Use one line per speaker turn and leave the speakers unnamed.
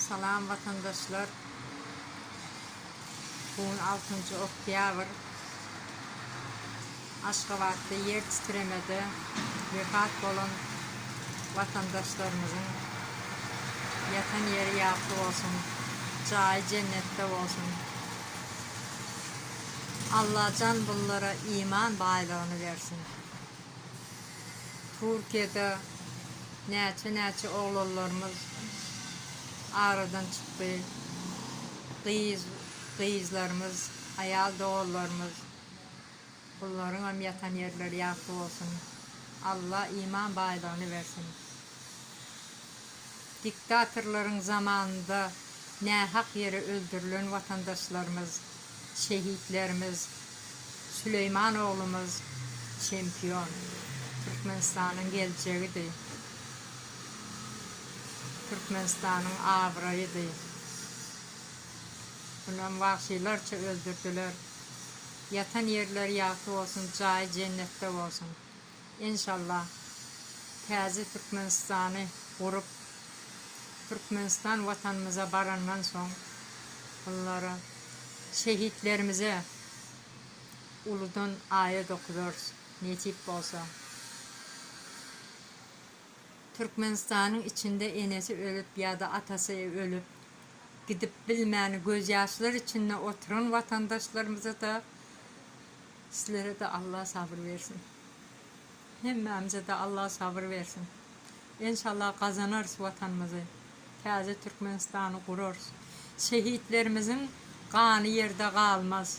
Salam watandaşlar! Bu gün altynjy oktýabr. Aşgabatda ýer titremede wepat bolan watandaşlarymyzyň ýatan ýeri ýagty bolsun, jaýy jennetde bolsun. Allajan bunlara iman baýlygyny bersin. Türkiýede näçe-näçe oglanlarymyz aradan çykdy, gyz, gyzlarymyz, aýal doganlarymyz, bularyňam ýatan ýerleri ýagty bolsun, Alla iman baýlygyny bersin. Diktatorlaryň zamanynda nähak ýere öldürilen watandaşlarymyz, Şehitlerimiz Süleýman oglumyz çempion Türkmenistanyň geljegidi Türkmenistanyň abraýydy Munem wagşylarça öldürdiler Ýatan ýerleri ýagty bolsun jaýy jennetde bolsun. Enşallah täze Türkmenistany gurup Türkmenistan watanymyza barandan soň bunlara şehitlerimize uludan aýat okudarys nesip bolsa. Türkmenistanyň içinde enesi ölüp ýa-da atasy ölüp gidip bilmän gözýaşlar içinde oturan watandaşlarymyza-da Sizlerede Allah sabyr bersin. Hemmämizede Allah sabyr bersin. Enşallah gazanarys watanymyzy. Täze Türkmenistany gurarys. Şehitlerimiziň gany ýerde galmaz.